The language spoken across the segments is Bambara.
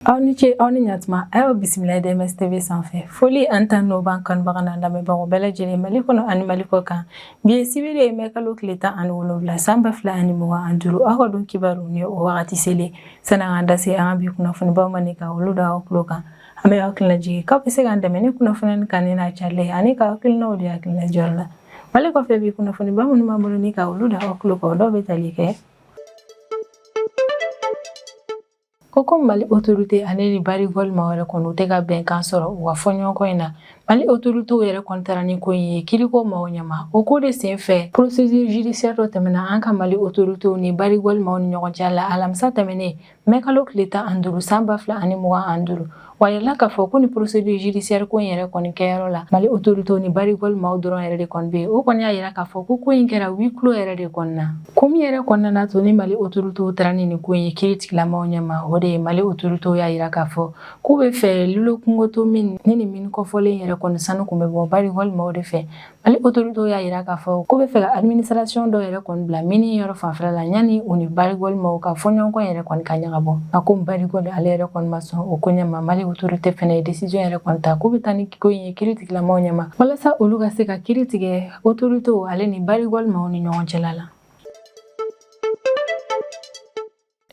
aw ni ce aw ni ɲatuma a y'aw bisimila dms tv sanfɛ foli ani tanu b'an kanubaga n'an lamɛnbagaw bɛɛ lajɛlen mali kɔnɔ ani mali kɔ kan bi ye sibiri ye mɛ kalo tile tan ani wolonwula san ba fila ani mugan ani duuru aw ka don kibaru ni o wagati selen sani an ka da se an ka bi kunnafonibaw ma ni ka olu da aw tulo kan an bɛ aw hakilina jigin k'aw bɛ se k'an dɛmɛ ni kunnafoni kan ni n'a carilen ani ka hakilinaw di hakilina diyɔrɔ la Wale kɔfɛ bi kunnafoniba minnu b'an bolo ni ka olu da aw tulo kan dɔw bɛ tali kɛ ko ko mali autorité ale ni barrick gold maaw yɛrɛ kɔni u tɛ ka bɛnkan sɔrɔ u ka fɔɲɔgɔnkɔ in na mali autoritéw yɛrɛ kɔni taara ni ko in ye kiriko maaw ɲɛma o ko de sen fɛ procédure judiciaire dɔ tɛmɛna an ka mali autoritéw ni barrick gold maaw ni ɲɔgɔn cɛ la alamisa tɛmɛnen mɛkalo tile tan ani duuru san ba fila ani mugan ani duuru wa a yirala k'a fɔ ko ni procédure judiciaire ko in yɛrɛ kɔni kɛyɔrɔ la mali autorité ni barrick gold maaw dɔrɔn yɛrɛ de kɔni bɛ o kɔni y'a yira k'a fɔ ko ko in kɛra huis clos yɛrɛ de kɔnɔna ko min yɛrɛ kɔni nana to ni mali autorité taara ni ko in ye kiritigɛla maaw ɲɛma o de ye mali autorité y'a yira k'a fɔ k'u bɛ fɛ loulo gounkoto mine nin min kofɔlen yɛrɛ kɔni sanu kun bɛ bɔ barrick gold maaw de fɛ Mali autorités y'a jira k'a fɔ k'u bɛ fɛ ka administration dɔ yɛrɛ kɔni bila mine yɔrɔ fanfɛla la yanni u ni Barrick Gold maaw ka fɔɲɔgɔnkɔ yɛrɛ kɔni ka ɲagabɔ nka komi Barrick Gold ale yɛrɛ kɔni ma sɔn o koɲɛ ma Mali autorité fɛnɛ ye décision yɛrɛ kɔni ta k'u bɛ taa ni ko in ye kiritigɛla maaw ɲɛma walasa olu ka se ka kiri tigɛ autorités ale ni Barrick Gold maaw ni ɲɔgɔn cɛla la.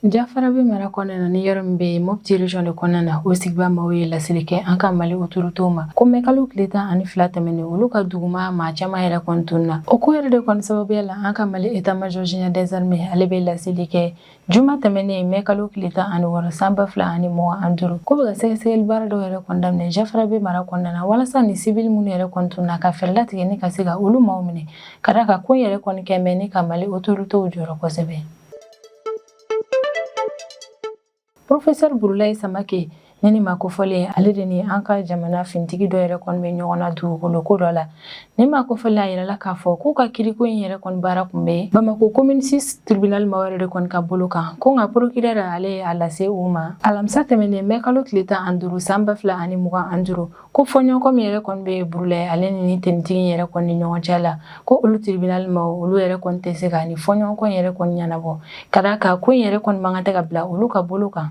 Jafarabɛ mara kɔnɔna na ni yɔrɔ min bɛ yen Mopti région de kɔnɔna na o sigibaa maaw ye laseli kɛ an ka Mali autorités ma ko mɛkalo tile tan ani fila tɛmɛnen olu ka duguma maa caman yɛrɛ kɔni tununna o ko yɛrɛ de kɔni sababuya la an ka Mali état major général des armées ale bɛ laseli kɛ juma tɛmɛnen mɛkalo tile tan ani wɔɔrɔ san ba fila ani mugan ani duuru k'u bɛ ka sɛgɛsɛgɛli baara dɔw yɛrɛ kɔni daminɛ Jafarabɛ mara kɔnɔna na walasa ni civil minnu yɛrɛ kɔni tununna ka fɛɛrɛ latigɛ ni ka se ka olu maaw minɛ ka da kan ko yɛrɛ kɔni kɛ mɛ ni ka Mali autorités jɔrɔ kosɛbɛ Professeur Burulayi Samake ni nin maa kofɔlen ale de ni an ka jamana finitigi dɔ yɛrɛ kɔni bɛ ɲɔgɔn na dugukolo ko dɔ la nin maa kofɔlen a yirala k'a fɔ k'u ka kiriko in yɛrɛ kɔni baara kun bɛ bamako commune 6 tribunal maaw yɛrɛ de kɔni ka bolo kan ko nka procureur ale ye a lase u ma alamisa tɛmɛnen mɛ kalo tile tan ani duuru san ba fila ani mugan ani duuru ko fɔɲɔgɔnkɔ min yɛrɛ kɔni bɛ burulayi ale ni finitigi yɛrɛ kɔni ni ɲɔgɔn cɛ la ko olu tribunal maaw olu yɛrɛ kɔni tɛ se ka nin fɔɲɔgɔnkɔ yɛrɛ kɔni ɲɛnabɔ ka da kan ko in yɛrɛ kɔni man kan de ka bila olu ka bolo kan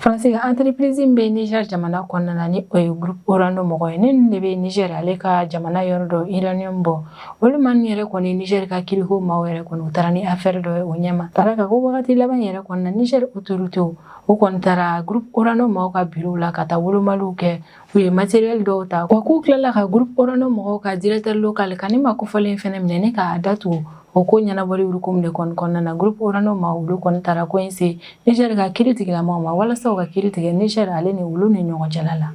faransi ka entreprise bɛ niger jamana kɔnɔna na ni o ye groupe orano mɔgɔ ye nin de bɛ niger ale ka jamana yɔrɔ dɔ uranium bɔ olu maa ninnu yɛrɛ kɔni niger ka kiriko maaw yɛrɛ kɔni u taara ni affaire dɔ ye o ɲɛma ka da kan ko wagati laban yɛrɛ kɔnɔna niger autoritéw u kɔni taara groupe Orano mɔgɔw ka bureau la ka taa wolomaliw kɛ u ye matériel dɔw ta wa k'u tilala ka groupe Orano mɔgɔw ka directeur local ka ni maa kofɔlen fɛnɛ minɛ ni k'a datugu o ko ɲɛnabɔli hukumu de kɔni kɔnɔna na groupe Orano maw olu kɔni taara ko in se Niger ka kiri tigilamaw ma walasa u ka kiri tigɛ Niger ale ni olu ni ɲɔgɔn cɛla la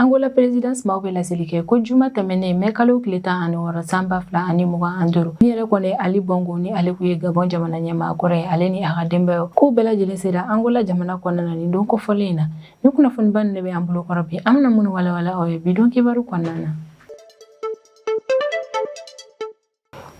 Angola présidence maaw bɛ laseli kɛ ko juma tɛmɛnen mɛ kalo tile tan ani wɔɔrɔ san ba fila ani mugan an duuru ni yɛrɛ kɔni Ali Bongo ni ale kun ye Gabon jamana ɲɛmaa kɔrɔ ye ale ni a ka denbayaw k'u bɛɛ lajɛlen sera Angola jamana kɔnɔna na ni don kofɔlen in na ni kunnafoniba ninnu de bɛ an bolo kɔrɔ bi an bɛna minnu walawala aw ye bi don kibaru kɔnɔna na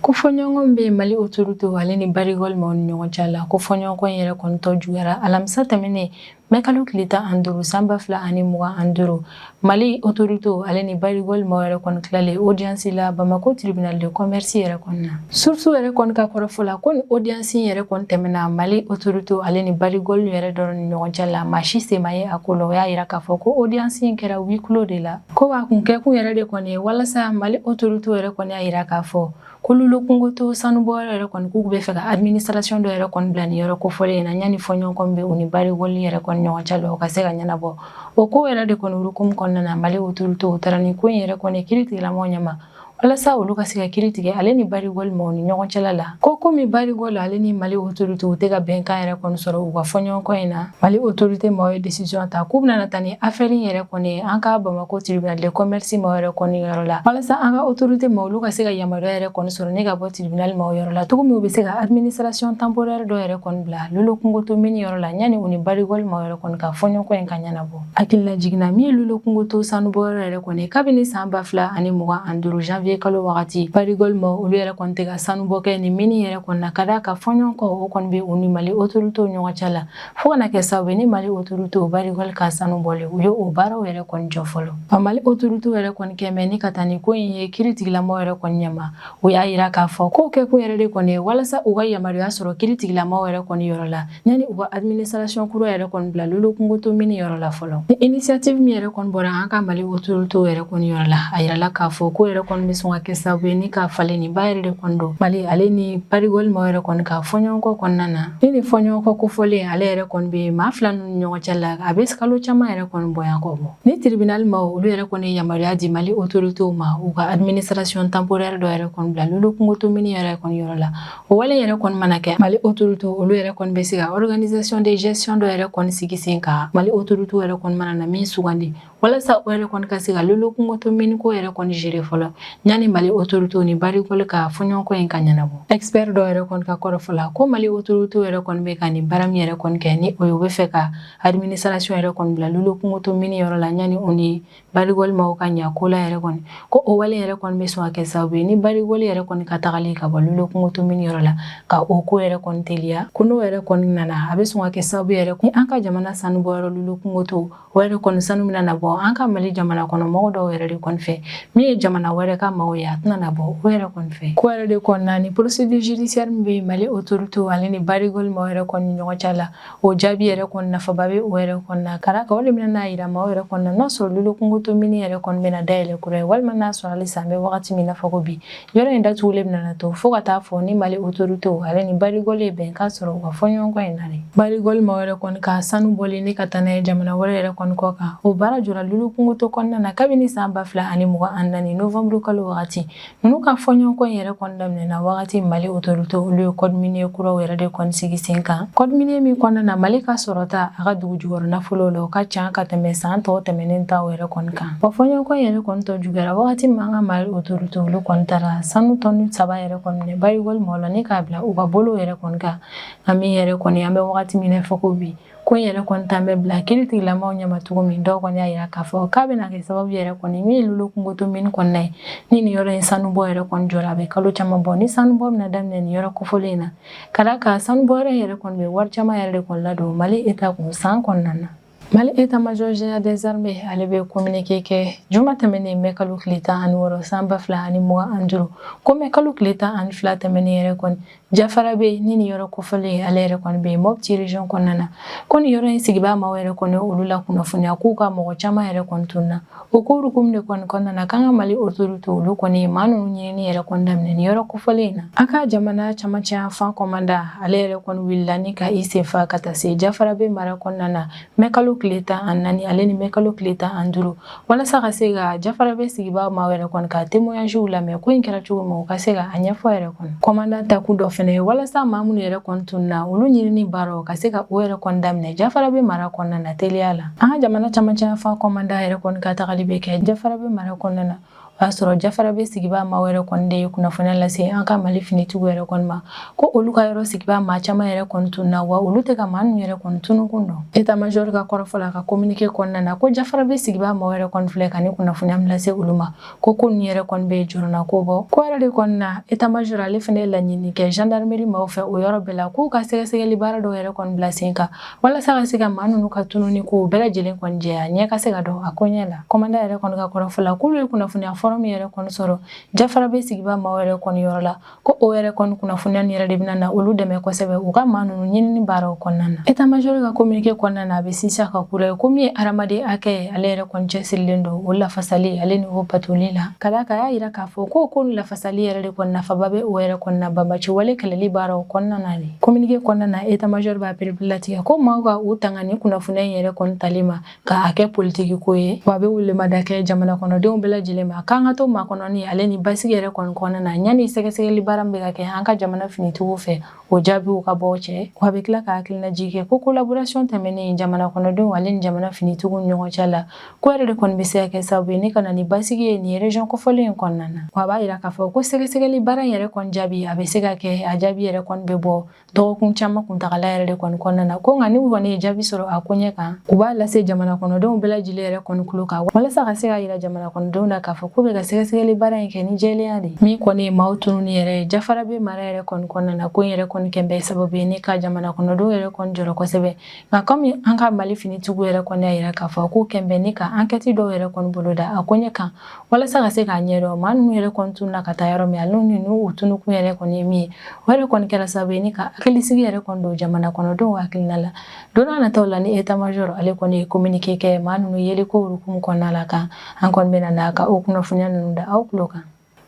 Ko fɔɲɔgɔnkɔ bɛ Mali autorité ale ni Barrick Gold maw ni ɲɔgɔn cɛ la ko fɔɲɔgɔnkɔ in yɛrɛ kɔni tɔ juyara alamisa tɛmɛnen mɛ kalo tile tan an duuru san ba fila ani mugan an duuru Mali autorité ale ni Barrick Gold maw yɛrɛ kɔni tilalen audience la Bamako tribunal de commerce yɛrɛ kɔnɔna na surusu yɛrɛ kɔn ka kɔrɔfɔfɔ la ko ni audience in yɛrɛ kɔni tɛmɛna Mali autorité ale ni Barrick Gold yɛrɛ dɔrɔn ni ɲɔgɔn cɛ la maa si sen ma ye a ko la o y'a jira k'a fɔ ko audience in kɛra huis clos de la Ko wa kun kɛkun yɛrɛ de kɔni ye walasa Mali autorité yɛrɛ kɔni y'a yira k'a fɔ ko lolo kungoto sanubɔyɔrɔ yɛrɛ kɔni k'u bɛ fɛ ka administration dɔ yɛrɛ kɔni bila ni yɔrɔ kofɔlen in na yanni fɔɲɔgɔnkɔ bɛ u ni Barrick Gold yɛrɛ kɔni ɲɔgɔn cɛ la o ka se ka ɲɛnabɔ o ko yɛrɛ de kɔni hukumu kɔnɔna Mali autorité u taara ni ko in yɛrɛ kɔni kiri tigɛlamɔgɔw ɲɛma walasa olu ka se ka kiri tigɛ ale ni Barrick Gold maw ni ɲɔgɔn cɛla la ko komi Barrick Gold ale ni Mali autorité u tɛ ka bɛnkan yɛrɛ kɔni sɔrɔ u ka fɔɲɔgɔnkɔ in na Mali autorité maw ye décision ta k'u bɛna taa ni affaire in yɛrɛ kɔni an ka Bamako tribunal de commerce maw yɛrɛ kɔni yɔrɔ la walasa an ka autorité maw olu ka se ka yamaruya yɛrɛ kɔni sɔrɔ ne ka bɔ tribunal maw yɔrɔ la cogo min u bɛ se ka administration temporaire dɔ yɛrɛ kɔni bila lolo kungoto mini yɔrɔ la yanni u ni Barrick Gold maw yɛrɛ kɔni ka fɔɲɔgɔnkɔ in ka ɲɛnabɔ Hakililajigin na min lolo kungoto sanubɔyɔrɔ yɛrɛ kɔni kabini san ba fila ani mugan ani duuru janvier kalo wagati Barrick Gold maw olu yɛrɛ kɔni tɛ ka sanubɔ kɛ ni mini yɛrɛ kɔni na ka d'a kan fɔɲɔgɔnkɔ o kɔni bɛ u ni Mali autoritéw ɲɔgɔn cɛ la fo ka na kɛ sababu ni Mali autoritéw Barrick Gold ka sanu bɔlen u ye o baaraw yɛrɛ kɔni jɔ fɔlɔ a Mali autoritéw yɛrɛ kɔni kɛmɛ ni ka taa ni ko in ye kiri tigilamɔgɔ yɛrɛ kɔni ɲɛma U y'a yira k'a fɔ k'o kɛ kun yɛrɛ de kɔni ye walasa u ka yamaruya sɔrɔ kiri tigilamaw yɛrɛ kɔni yɔrɔ la yanni u ka administration kura yɛrɛ kɔni bila lolo kungoto mini yɔrɔ la fɔlɔ ni initiative min yɛrɛ kɔni bɔra an ka Mali autoritéw yɛrɛ kɔni yɔrɔ la a yirala k'a fɔ k'o yɛrɛ kɔni bɛ sɔn ka kɛ sababu ye ni ka falenniba yɛrɛ de kɔni don Mali ale ni Barrick Gold maw yɛrɛ kɔni ka fɔɲɔgɔnkɔ kɔnɔna na Ni ni fɔɲɔgɔnkɔ kofɔlen ale yɛrɛ kɔni bɛ maa fila ninnu ɲɔgɔn cɛ la a bɛ kalo caman yɛrɛ kɔni bonya kɔ bɔ ni tribunal maw olu yɛrɛ kɔni ye yamaruya di Mali autoritéw ma u ka administration temporaire dɔ yɛrɛ kɔni bila lolo kungoto mini yɛrɛ kɔni yɔrɔ la o wale yɛrɛ kɔni mana kɛ Mali autorité olu yɛrɛ kɔni bɛ se ka organisation de gestion dɔ yɛrɛ kɔni sigi sen kan Mali autoritéw yɛrɛ kɔni mana na min sugandi walasa o yɛrɛ kɔni ka se ka lolo kungoto mini ko yɛrɛ kɔni gérer fɔlɔ yanni mali autorité ni barigol ka fɔɲɔgɔnkɔ in ka ɲɛnabɔ expert dɔ yɛrɛ kɔni ka kɔrɔfɔ la ko mali autorité yɛrɛ kɔni bɛ ka nin baara min yɛrɛ kɔni kɛ ni o ye u bɛ fɛ ka administration yɛrɛ kɔni bila lolo kungoto mini yɔrɔ la yanni o ni barigol maaw ka ɲa ko la yɛrɛ kɔni ko o wale yɛrɛ kɔni bɛ sɔn ka kɛ sababu ye ni barigol yɛrɛ kɔni ka tagali ka bɔ lolo kungoto mini yɔrɔ la ka o ko yɛrɛ kɔni teliya ko n'o yɛrɛ kɔni nana a bɛ sɔn ka kɛ sababu yɛrɛ ni an ka jamana sanubɔyɔrɔ lolo kungoto O yɛrɛ kɔni sanu bɛna na bɔ an ka mali jamana kɔnɔ mɔgɔ dɔw yɛrɛ de kɔni fɛ min ye jamana wɛrɛ ka maaw ye a tɛna na bɔ o yɛrɛ kɔni fɛ ko yɛrɛ de kɔnɔna ni procédure judiciaire min bɛ mali autorité ale ni barigol maaw yɛrɛ kɔni ɲɔgɔn cɛ la o jaabi yɛrɛ kɔni nafaba bɛ o yɛrɛ kɔnɔna ka d'a kan o de bɛna n'a yira maaw yɛrɛ kɔnɔna n'a sɔrɔ lolo kungoto mini yɛrɛ kɔni bɛna dayɛlɛ kura ye walima n'a sɔrɔ halisa an bɛ wagati min na fɔ ko bi Yɔrɔ in datugulen bɛna na to fo ka taa fɔ ni mali autorité ale ni barigol ye bɛnkan sɔrɔ u ka fɔɲɔgɔnkɔ in na barigol maaw yɛrɛ kɔni ka sanu bɔlen ni ka taa n'a ye jamana wɛrɛ yɛrɛ kɔni kɔ kan o baara jɔra lolo kungoto kɔnɔna na kabini san ba fila ani mugan an naani nowanburu kalo wagati ninnu ka fɔɲɔgɔnkɔ in yɛrɛ kɔni daminɛna wagati mali autorité olu ye code minier kuraw yɛrɛ de kɔni sigi sen kan code minier min kɔnɔna na mali ka sɔrɔta a ka dugu jukɔrɔ nafolo la ka ca ka tɛmɛ san tɔw tɛmɛnen ta yɛrɛ kɔni kan Wa fɔɲɔgɔnkɔ yɛrɛ kɔni tɔ juguyara wagati min an ka mari autorité olu kɔni taara sanu tɔni saba yɛrɛ kɔni minɛ barigol maaw la ni k'a bila u ka bolo yɛrɛ kɔni kan an min yɛrɛ kɔni an bɛ wagati min na fɔ ko bi ko in yɛrɛ kɔni taalen bɛ bila kiiritigɛlamɔgɔw ɲɛ cogo min dɔw kɔni y'a jira k'a fɔ k'a bɛna kɛ sababu yɛrɛ kɔni min ye lolo kungoto mini kɔnɔna ye ni nin yɔrɔ in sanubɔ yɛrɛ kɔni jɔra a bɛ kalo caman bɔ ni sanubɔ bɛna daminɛ nin yɔrɔ kofɔlen in na ka d'a kan sanubɔ yɛrɛ kɔni bɛ wari caman yɛrɛ de kɔni ladon mali état kun san kɔnɔna na Mali état-major général des armées ale bɛ communiqué kɛ juma tɛmɛnen mɛ kalo tile tan ani wɔɔrɔ san ba fila ani mugan an duuru ko mɛ kalo tile tan ani fila tɛmɛnen yɛrɛ kɔni jafarabɛ ni nin yɔrɔ kofɔlen ale yɛrɛ kɔni bɛ mopti région kɔnɔna na ko nin yɔrɔ in sigibaa maaw yɛrɛ kɔni olu la kunnafoniya k'u ka mɔgɔ caman yɛrɛ kɔni tunna O ko hukumu de kɔni kɔnɔna na k'an ka mali autorité olu kɔni ye maa ninnu ɲinini yɛrɛ kɔni daminɛ nin yɔrɔ kofɔlen in na an ka jamana camancɛ yanfan commandant ale yɛrɛ kɔni wulila ni ka i sen fa ka taa se jafarabɛ mara kɔnɔna na mɛ kalo tile tan an naani ale ni mɛ kalo tile tan an duuru walasa ka se ka jafarabɛ sigibaa maaw yɛrɛ kɔni ka témoignages lamɛn ko in kɛra cogo min u ka se ka a ɲɛfɔ yɛrɛ kɔni commandant taakun dɔ fana ye walasa maa minnu yɛrɛ kɔni tunna olu ɲinini baaraw ka se ka o yɛrɛ kɔni daminɛ jafarabɛ mara kɔnɔna na teliya la an ka jamana camancɛ yanfan commandant yɛrɛ kɔni ka tagali bɛ kɛ jafarabɛ mara kɔnɔna na o y'a sɔrɔ jafarabɛ sigibaa maaw yɛrɛ kɔni de ye kunnafoniya lase an ka mali finitigiw yɛrɛ kɔni ma ko olu ka yɔrɔ sigibaa maa caman yɛrɛ kɔni tunna wa olu tɛ ka maa ninnu yɛrɛ kɔni tunukun dɔn état-major ka kɔrɔfɔ la ka communiqué kɔnɔna na ko jafarabɛ sigibaa maaw yɛrɛ kɔni filɛ ka nin kunnafoniya min lase olu ma ko ko nin yɛrɛ kɔni bɛ jɔrɔnanko bɔ ko yɛrɛ de kɔni na etamajoro ale fɛnɛ ye laɲini kɛ gendarmerie maaw fɛ o yɔrɔ bɛɛ la k'u ka sɛgɛsɛgɛli baara dɔw yɛrɛ kɔni bila sen kan walasa ka se ka maa ninnu ka tununi kow bɛɛ lajɛlen kɔni jɛya ɲɛ ka se ka dɔn a koɲɛ la kɔmandan yɛrɛ kɔni ka kɔrɔfɔ la k'olu ye kunnafoniya fɔrɔmu yɛrɛ kɔni sɔrɔ jafarabɛ sigibaa maaw yɛrɛ kɔni yɔrɔ la ko o yɛrɛ kɔni kunnafoniya nin yɛrɛ de bɛna na olu dɛmɛ kosɛbɛ u ka maa ninnu ɲinini baaraw kɔnɔna na etamajɔri ka kominike kɔnɔna na a bɛ sinsin a kan kura ye ko min ye hadamaden hakɛ ye ale yɛrɛ kɔni cɛsirilen don o lafasali ale ni o batoli la ka d'a kan a y'a yira k'a fɔ ko ko lafasali yɛrɛ de kɔni nafaba bɛ o yɛrɛ kɔni na banbaanci wale kɛlɛli baaraw kɔnɔna na de kominike kɔnɔna na etamajɔri b'a pereperelatigɛ ko maaw ka u tanga ni kunnafoniya in yɛrɛ kɔni tali ma ka a kɛ politiki ko ye wa a bɛ welemada kɛ jamana kɔnɔdenw bɛɛ lajɛlen ma k'an ka to makɔnɔni ale ni basigi yɛrɛ kɔni kɔnɔna na yanni sɛgɛsɛgɛli baara min bɛ ka kɛ an ka jamana finitigiw fɛ o jaabiw ka bɔ cɛ wa a bɛ tila ka hakilinajigin kɛ ko kolaborasiyɔn tɛmɛnen jamana kɔnɔdenw ale ni jamana finitigiw ni ɲɔgɔn cɛ la ko yɛrɛ de kɔni bɛ se ka kɛ sababu ye ni ka na ni basigi ye nin rejɔn kofɔlen in kɔnɔna na wa a b'a yira k'a fɔ ko sɛgɛsɛgɛli baara in yɛrɛ kɔni jaabi a bɛ se ka kɛ a jaabi yɛrɛ kɔni bɛ bɔ dɔgɔkun caman kuntagala yɛrɛ de kɔni kɔnɔna na ko nka n'u kɔni ye jaabi sɔrɔ a ko ɲɛ kan u b'a lase jamana kɔnɔdenw bɛɛ lajɛlen yɛrɛ kɔni kulo kan walasa ka se k'a yira jamana kɔnɔdenw na k'a fɔ k'u bɛ ka sɛgɛsɛgɛli baara in kɛ ni jɛlenya de min kɔni ye maaw tununi yɛrɛ ye jafarabɛ mara yɛrɛ kɔni kɔnɔna na ko in yɛrɛ kɔni kɛn bɛ sababu ye ni ka jamana kɔnɔdenw yɛrɛ kɔni jɔrɔ kosɛbɛ nka kɔmi an ka mali finitigiw yɛrɛ kɔni y'a yira k'a fɔ k'u kɛn bɛ ni ka ankɛti dɔw yɛrɛ kɔni boloda a ko ɲɛ kan walasa ka se k'a ɲɛdɔn maa ninnu yɛrɛ kɔni tununna ka taa yɔrɔ min ale ni u tununkun yɛrɛ kɔni ye min ye o yɛrɛ kɔni kɛra sababu ye ni ka hakilisigi yɛrɛ kɔni don jamana kɔnɔdenw hakilina la don n'a nataw la ni etamajɔrɔ ale kɔni ye kominike kɛ maa ninnu yeliko hukumu kɔnɔna la kan an kɔni bɛna na ka o kunnafoniya ninnu da aw tulo kan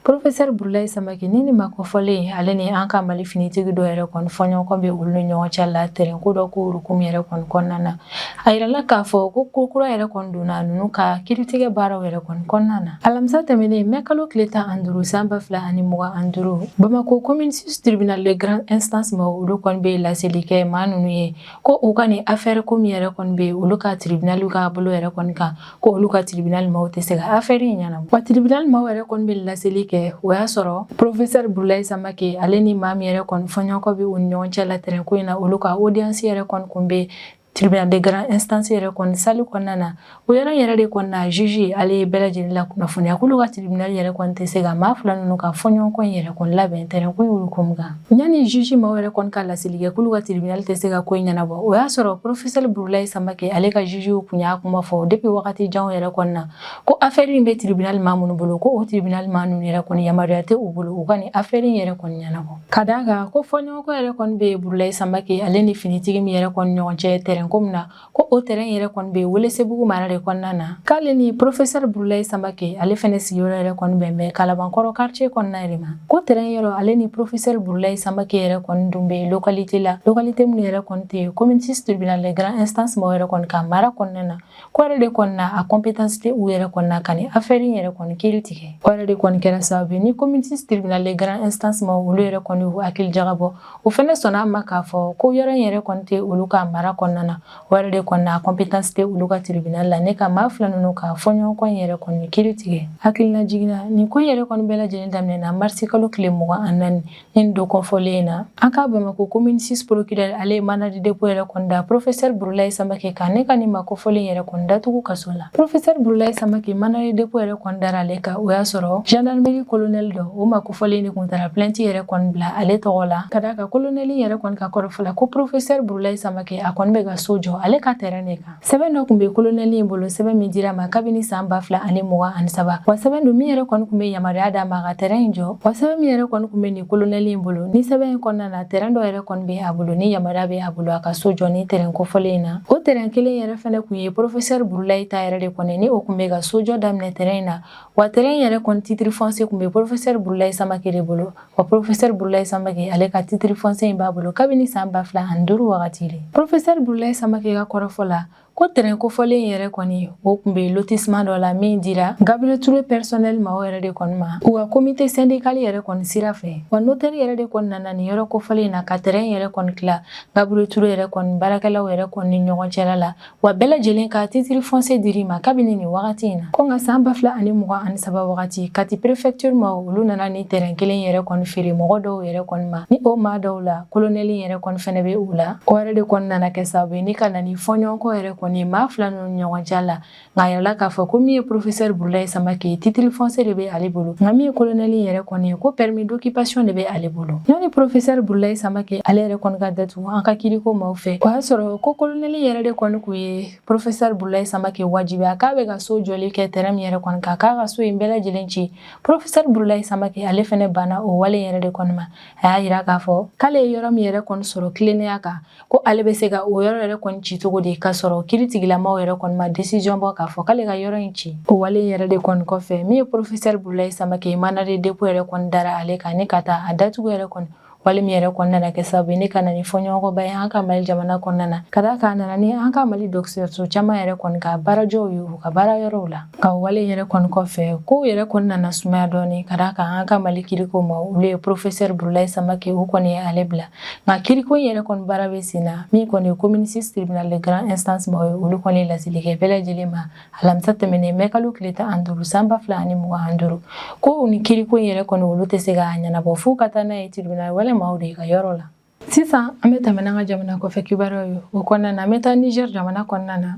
Professeur Burulayi Samake ni nin maa kofɔlen ale ni an ka Mali finitigi dɔ yɛrɛ kɔni fɔɲɔgɔnkɔ bɛ olu ni ɲɔgɔn cɛ la terɛnko dɔ ko hukumu yɛrɛ kɔni kɔnɔna na A yirala k'a fɔ ko ko kura yɛrɛ kɔni donna ninnu ka kiritigɛ baaraw yɛrɛ kɔni kɔnɔna na alamisa tɛmɛnen mɛ kalo tile tan an duuru san ba fila ani mugan an duuru bamakɔ commune six tribunal de grande instance maaw olu kɔni bɛ laseli kɛ maa ninnu ye ko u ka nin afɛɛrɛ ko min yɛrɛ kɔni bɛ olu ka tiribinali ka bolo yɛrɛ kɔni kan ko olu ka tribunal maaw tɛ se ka affaire in ɲɛnabɔ wa tribunal maaw yɛrɛ kɔni bɛ laseli kɛ o y'a sɔrɔ professeur burulayi samake ale ni maa min yɛrɛ kɔni fɔɲɔgɔnkɔ bɛ u ni ɲɔgɔn cɛ la terɛn ko in na olu ka audience yɛrɛ kɔni kun bɛ tribunal de grande instance yɛrɛ kɔni sali kɔnɔna na o yɔrɔ in yɛrɛ de kɔni na juge ale ye bɛɛ lajɛlen lakunnafoniya k'olu ka tribunal yɛrɛ kɔni tɛ se ka maa fila ninnu ka fɔɲɔgɔnkɔ in yɛrɛ kɔni labɛn tɛrɛn ko in hukumu kan Yanni juge maaw yɛrɛ kɔni ka laseli kɛ k'olu ka tribunal tɛ se ka ko in ɲɛnabɔ o y'a sɔrɔ professeur Burulayi Samake ale ka jugew kun y'a kuma fɔ depuis wagati janw yɛrɛ kɔni na ko affaire in bɛ tribunal maa minnu bolo ko o tribunal maa ninnu yɛrɛ kɔni yamaruya tɛ u bolo u ka nin affaire in yɛrɛ kɔni ɲɛnabɔ ka d'a kan ko fɔɲɔgɔnkɔ yɛrɛ kɔni bɛ Burulayi Samake ale ni finitigi min yɛrɛ kɔni ɲɔgɔn cɛ terrain ko min na ko o tɛrɛn yɛrɛ kɔni bɛ Welesebugu mara de kɔnɔna na k'ale ni professeur Burulayi Samake ale fɛnɛ sigiyɔrɔ yɛrɛ kɔni bɛn bɛ Kalabankɔrɔ quartier kɔnɔna de ma ko tɛrɛn yɔrɔ ale ni professeur Burulayi Samake yɛrɛ kɔni dun bɛ localité la localité minnu yɛrɛ kɔni tɛ commune 6 tribunal de grande instance maa yɛrɛ kɔni ka mara kɔnɔna na k'o yɛrɛ de kɔni na a compétence tɛ u yɛrɛ kɔni na ka nin affaire in yɛrɛ kɔni kiri tigɛ o yɛrɛ de kɔni kɛra sababu ye ni commune 6 tribunal de grande instance maa olu yɛrɛ kɔni y'u hakili jagabɔ O fɛnɛ sɔnna a ma k'a fɔ ko yɔrɔ in yɛrɛ kɔni tɛ olu ka mara kɔnɔna na o yɛrɛ de kɔni na a compétence tɛ olu ka tribunal la ni ka maa fila ninnu ka fɔɲɔgɔnkɔ in yɛrɛ kɔni kiri tigɛ hakililajigin na nin ko yɛrɛ kɔni bɛɛ lajɛlen daminɛna marisi kalo tile mugan ni naani nin don kofɔlen in na an ka Bamakɔ commune six procureur ale ye mandat de dépôt yɛrɛ kɔni da porofesɛri Burulayi Samake kan ni ka nin maa kofɔlen yɛrɛ kɔni datugu kaso la porofesɛri Burulayi Samake mandat de dépôt yɛrɛ kɔni dara ale kan o y'a sɔrɔ gendarmerie kolonɛli dɔ o maa Fɔlen de kun taara plainte yɛrɛ kɔni bila ale tɔgɔ la ka d'a kan kolonɛli yɛrɛ kɔni ka kɔrɔfɔ la ko porofesɛri Burulayi Samake a kɔni bɛ ka so jɔ ale ka tɛrɛn de kan sɛbɛn dɔ kun bɛ kolonɛli in bolo sɛbɛn min dira a ma kabini san ba fila ani mugan ani saba wa sɛbɛn don min yɛrɛ kɔni kun bɛ yamaruya d'a ma ka tɛrɛn in jɔ wa sɛbɛn min yɛrɛ kɔni kun bɛ nin kolonɛli in bolo nin sɛbɛn in kɔnɔna na tɛrɛn dɔ yɛrɛ kɔni bɛ a bolo ni yamaruya bɛ a bolo a ka so jɔ nin tɛrɛn kofɔlen in na o tɛrɛn kelen yɛrɛ fɛnɛ kun ye porofesɛri Burulayi ta yɛrɛ de kɔni ni o kun bɛ ka so jɔ daminɛ tɛrɛn in na Wa tɛrɛn in yɛrɛ kɔni titiri fɔnse kun bɛ porofesɛri Burulayi Samake de bolo wa porofesɛri Burulayi Samake ale ka titiri fɔnse in b'a bolo kabini san ba fila ani duuru wagati de porofesɛri Burulayi Samake ka kɔrɔfɔ la ko tɛrɛn kofɔlen in yɛrɛ kɔni o kun bɛ lotissement dɔ la min dira Gabriel Touré personnel maaw yɛrɛ de kɔni ma u ka comité syndical yɛrɛ kɔni sira fɛ wa notaire yɛrɛ de kɔni nana nin yɔrɔ kofɔlen in na ka tɛrɛn yɛrɛ kɔni tila Gabriel Touré yɛrɛ kɔni baarakɛlaw yɛrɛ kɔni ni ɲɔgɔn cɛla la wa bɛɛ lajɛlen ka titiri fɔnse dir'i ma kabini nin wagati in na ko nka saan ba fila ani mugan ani saba wagati kati prefɛktiri maa olu nana ni tɛrɛn kelen yɛrɛ kɔni feere mɔgɔ dɔw yɛrɛ kɔni ma ni o maa dɔw la kolonɛli yɛrɛ kɔni fɛnɛ be u la o yɛrɛ de kɔni nana kɛ sababu ye ni ka na ni fɔɲɔgɔnkɔ yɛrɛ kɔni ye maa fila ninnu ni ɲɔgɔn cɛ la nka a yirala k'a fɔ ko min ye profesɛr burulayi samake ye titiri fɔnse de be ale bolo nka min ye kolonɛli yɛrɛ kɔni ye ko pɛrimi dokipasiyɔn de be ale bolo yanni profesɛr burulayi samake ale yɛrɛ kɔni ka datu an ka kiriko maaw fɛ o y'a sɔrɔ ko kolonɛli yɛrɛ de kɔni kun ye porofesɛri Burulayi Samake wajibiya k'a bɛ ka so jɔli kɛ tɛrɛn min yɛrɛ kɔni kan k'a ka so in bɛɛ lajɛlen ci porofesɛri Burulayi Samake ale fɛnɛ banna o wale yɛrɛ de kɔni ma a y'a yira k'a fɔ k'ale ye yɔrɔ min yɛrɛ kɔni sɔrɔ tilennenya kan ko ale bɛ se ka o yɔrɔ yɛrɛ kɔni ci cogo di k'a sɔrɔ kiritigɛla maaw yɛrɛ kɔni ma desiziyɔn bɔ k'a fɔ k'ale ka yɔrɔ in ci o wale yɛrɛ de kɔni kɔfɛ min ye porofesɛri Burulayi Samake mandat de dépôt yɛrɛ kɔni dara ale kan ni ka taa a datugu yɛrɛ kɔni wale min yɛrɛ kɔni nana kɛ sababu ye ni ka na ni fɔɲɔgɔnkɔba ye an ka mali jamana kɔnɔna na ka d'a kan a nana ni an ka mali dɔgɔtɔrɔso caman yɛrɛ kɔni ka baarajɔw ye u ka baara yɔrɔw la ka wale yɛrɛ kɔni kɔfɛ kow yɛrɛ kɔni nana sumaya dɔɔni ka d'a kan an ka mali kiriko maaw olu ye porofesɛri burulayi samake u kɔni ye ale bila nka kiriko yɛrɛ kɔni baara bɛ sen na min kɔni ye commune six tribunal de grande instance maaw ye olu kɔni ye laseli kɛ bɛɛ lajɛlen ma alamisa tɛmɛnen mɛ kalo tile tan ani duuru san ba fila ani mugan ani duuru ko nin kiriko in yɛrɛ kɔni olu tɛ se k'a ɲɛnabɔ f'u ka taa n'a ye tiribinali wɛrɛ maaw de ka yɔrɔ la sisan an bɛ tɛmɛ n'an ka jamana kɔfɛ kibaruyaw ye o kɔnɔna na an bɛ taa niger jamana kɔnɔna na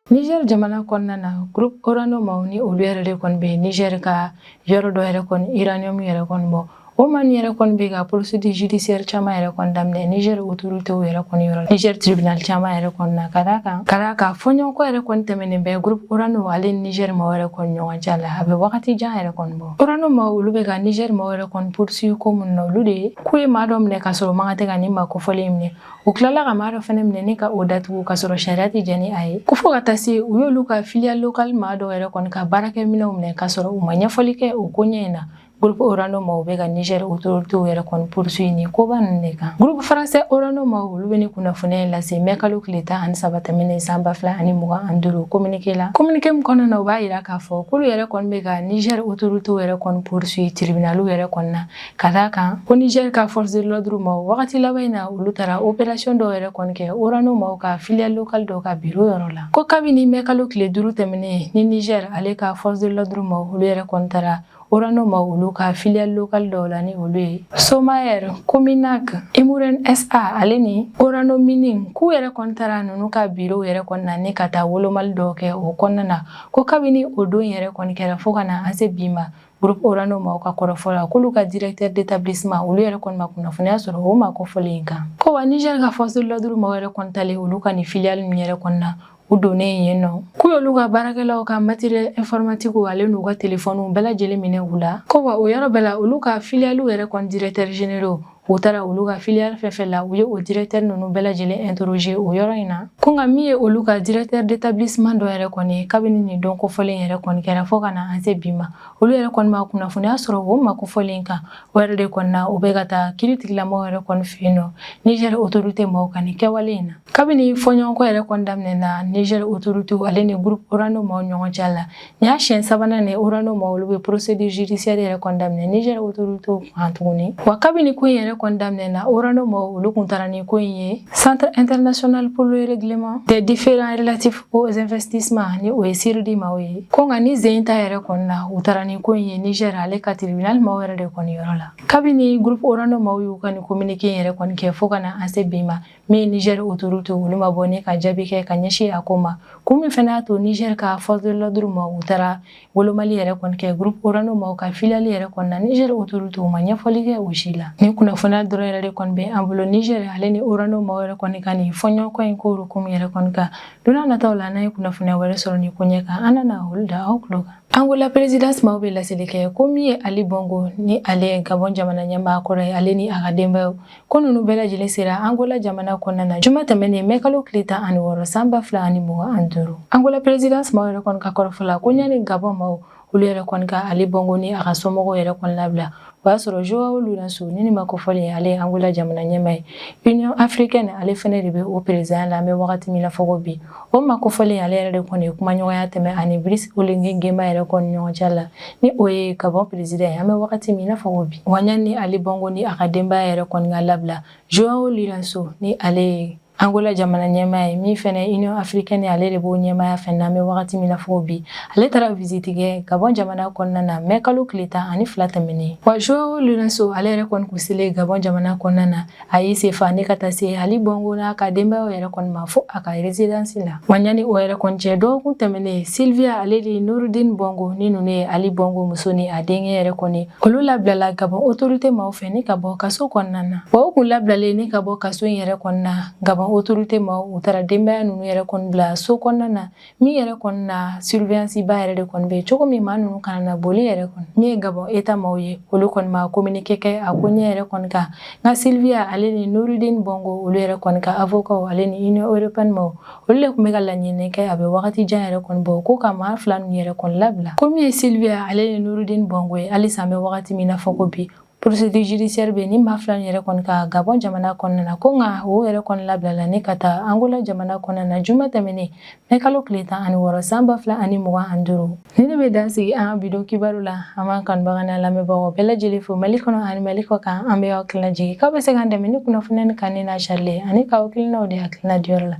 Niger jamana kɔnɔna na groupe Orano maaw ni olu yɛrɛ de kɔni bɛ Niger ka yɔrɔ dɔ yɛrɛ kɔni uranium yɛrɛ kɔni bɔ O maaw yɛrɛ kɔni bɛ ka procédure judiciaire caman yɛrɛ kɔni daminɛ Niger autorité yɛrɛ kɔni yɔrɔ la Niger tribunal caman yɛrɛ kɔni na ka d'a kan ka d'a kan fɔɲɔgɔnkɔ yɛrɛ kɔni tɛmɛnen bɛ groupe Orano ale ni Niger maaw yɛrɛ kɔni ɲɔgɔn cɛ la a bɛ wagati jan yɛrɛ kɔni bɔ Orano maaw olu bɛ ka Niger maaw yɛrɛ kɔni poursuivre ko minnu na olu de ye k'u ye maa dɔ minɛ ka sɔrɔ man kan tɛ ka nin maa kofɔlen minɛ u tilala ka maa dɔ fana minɛ ni ka o datugu ka sɔrɔ sariya tɛ jɛn ni a ye ko fo ka taa se u y'olu ka filiale locale maa dɔ yɛrɛ kɔni ka baarakɛminɛnw minɛ ka sɔrɔ u ma ɲɛfɔli kɛ o ko ɲɛ in na Gurupu orano maaw bɛ ka nizɛri autorité yɛrɛ kɔni poursuivre nin koba ninnu de kan gurupu faransɛ orano maaw olu bɛ nin kunnafoniya in lase mɛ kalo tile tan ani saba tɛmɛnen san ba fila ani mugan ani duuru kominike la kominike min kɔnɔna na u b'a jira k'a fɔ k'olu yɛrɛ kɔni bɛ ka nizɛri autorité yɛrɛ kɔni poursuivre tiribinali yɛrɛ kɔni na ka d'a kan ko nizɛri ka force de l'ordre maaw wagati laban in na olu taara opération dɔw yɛrɛ kɔni kɛ orano maaw ka filiale locale dɔw ka biro yɔrɔ la ko kabini mɛ kalo tile duuru tɛmɛnen ni nizɛri ale ka force de l'ordre maaw olu yɛrɛ kɔni taara Orano maaw olu ka filiale locale dɔw la ni olu ye Somaïr, Cominak, Imouraren SA ale ni Orano Mining k'u yɛrɛ kɔni taara ninnu ka birow yɛrɛ kɔni na ni ka taa wolomali dɔw kɛ o kɔnɔna na ko kabini o don yɛrɛ kɔni kɛra fo ka na an se bi ma groupe Orano maaw ka kɔrɔfɔ la k'olu ka directeur d'établissement olu yɛrɛ kɔni ma kunnafoniya sɔrɔ o maa kofɔlen in kan ko wa Niger ka force de l'ordre maaw yɛrɛ kɔni taalen olu ka nin filiale ninnu yɛrɛ kɔni na u donnen yen nɔ k'u y'olu ka baarakɛlaw ka matériel informatique ale n'u ka telefɔniw bɛɛ lajɛlen minɛ u la ko wa o yɔrɔ bɛɛ la olu ka filiyaliw yɛrɛ kɔni directeur généraux u taara olu ka filiyali fɛn fɛn la u ye o directeur ninnu bɛɛ lajɛlen interroger o yɔrɔ in na ko nka min ye olu ka directeur d'établissement dɔ yɛrɛ kɔni ye kabini nin don kofɔlen yɛrɛ kɔni kɛra fo ka na an se bi ma olu yɛrɛ kɔni ma kunnafoniya sɔrɔ o maa kofɔlen kan o yɛrɛ de kɔni na u bɛ ka taa kiritigɛla maaw yɛrɛ kɔni fɛ yen nɔ Niger autorité maaw ka nin kɛwale in na kabini fɔɲɔgɔnkɔ yɛrɛ kɔni daminɛna niger autorité ale ni groupe orano maw ɲɔgɔn cɛ la nin y'a siɲɛ sabanan ne orano maw olu bɛ procédure judiciaire yɛrɛ kɔni daminɛ niger autorité kan tuguni wa kabini ko in yɛrɛ kɔni daminɛna orano maw olu kun taara ni ko in ye centre international pour le règlement des différends relatifs aux investissements ni o ye cirdi maw ye ko nka nin sen ta yɛrɛ kɔni na u taara ni ko in ye niger ale ka tribunal maw yɛrɛ de kɔni yɔrɔ la kabini groupe orano maw y'u ka nin communiqué yɛrɛ kɔni kɛ fo ka na an se bi ma min ye Niger autorité olu ma bɔ ni ka jaabi kɛ ka ɲɛsin a ko ma kun min fɛnɛ y'a to Niger ka force de l'ordre maaw u taara wolomali yɛrɛ kɔni kɛ groupe Orano maaw ka filiale yɛrɛ kɔni na Niger autorité ma ɲɛfɔli kɛ o si la nin kunnafoniya dɔrɔn yɛrɛ de kɔni bɛ an bolo Niger ale ni Orano maaw yɛrɛ kɔni ka nin fɔɲɔgɔnkɔ in ko kun yɛrɛ kɔni kan don n'a nataw la n'an ye kunnafoniya wɛrɛ sɔrɔ nin koɲɛ kan an na na olu da aw tulo kan angola présidence maaw bɛ laseli kɛ ko min ye ali bongo ni ale ye gabɔn jamana ɲɛmaa kɔrɔ ye ale ni a ka denbayaw Ko ninnu bɛɛ lajɛlen sera Angola jamana kɔnɔna na juma tɛmɛnen mɛ kalo tile tan ani wɔɔrɔ san ba fila ani mugan ani duuru Angola présidence maaw yɛrɛ kɔni ka kɔrɔfɔ la ko ɲani Gabɔn maaw olu yɛrɛ kɔni ka Ali Bongo ni a ka somɔgɔw yɛrɛ kɔni labila o y'a sɔrɔ Joao Lourenço ni nin maa kofɔlen ale ye Angola jamana ɲɛmaa ye Union africaine ale fɛnɛ de bɛ o perezidanya la an bɛ wagati min na fɔ ko bi O maa kofɔlen ale yɛrɛ de kɔni ye kumaɲɔgɔnya tɛmɛ a ni Brice Oligui Nguema yɛrɛ kɔni ɲɔgɔn cɛ la, ni o ye Gabon président ye, an bɛ wagati min i n'a fɔ ko bi, wa ɲani Ali Bongo ni a ka denbaya yɛrɛ kɔni ka labila, Joao Lourenço ni ale ye Angola jamana ɲɛmaa ye, min fɛnɛ ye Union africaine ye, ale de b'o ɲɛmaaya fɛnɛ na, an bɛ wagati min i n'a fɔ ko bi, ale taara visite kɛ Gabon jamana kɔnɔna na mɛkalo tile tan ani fila tɛmɛnen. Wa Joao Lourenço ale yɛrɛ kɔni kun selen Gabon jamana kɔnɔna na, A y'i sen fa ne ka taa se Ali Bongo n'a ka denbayaw yɛrɛ kɔni ma fo a ka résidence la wa ɲani o yɛrɛ kɔni cɛ dɔgɔkun tɛmɛnen Sylvia ale ni Noureddin Bongo ni ninnu ye Ali Bongo muso ni a denkɛ yɛrɛ kɔni olu labilala Gabon autorité maw fɛ ni ka bɔ kaso kɔnɔna na wa u kun labilalen ni ka bɔ kaso in yɛrɛ kɔnɔna Gabon autorité maw u taara denbaya ninnu yɛrɛ kɔni bila so kɔnɔna na min yɛrɛ kɔni na surveillance ba yɛrɛ de kɔni bɛ cogo min maa ninnu kana na boli yɛrɛ kɔni min ye Gabon État maaw ye olu kɔni ma communiqué kɛ a koɲɛ yɛrɛ kɔni kan nka Sylvia ale ni Noureddin Bongo olu yɛrɛ kɔni ka avocat ale ni Union européenne maaw olu de tun bɛ ka laɲini nin kɛ a bɛ wagati jan yɛrɛ kɔni bɔ ko ka maa fila ninnu yɛrɛ kɔni labila ko min ye Sylvia ale ni Noureddin Bongo ye halisa an bɛ wagati min na fɔ ko bi Procédure judiciaire bɛ nin maa fila yɛrɛ kɔni kan Gabɔn jamana kɔnɔna na ko nka u yɛrɛ kɔni labilala ni ka taa Angola jamana kɔnɔna na juma tɛmɛnen mɛ kalo tile tan ani wɔɔrɔ san ba fila ani mugan ani duuru nin ne bɛ dan sigi an bi don kibaru la an b'an kanubagaw n'an lamɛnbagaw bɛɛ lajɛlen fo mali kɔnɔ ani mali kɔ kan an bɛ aw hakilina jigin k'aw bɛ se k'an dɛmɛ ni kunnafoniya nin kanuni n'a carili ani k'aw hakilinaw di hakilina diyɔrɔ la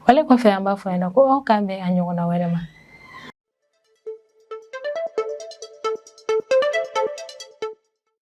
wale kɔfɛ an b'a fɔ yan ko aw k'an bɛn a ɲɔgɔnna wɛrɛ ma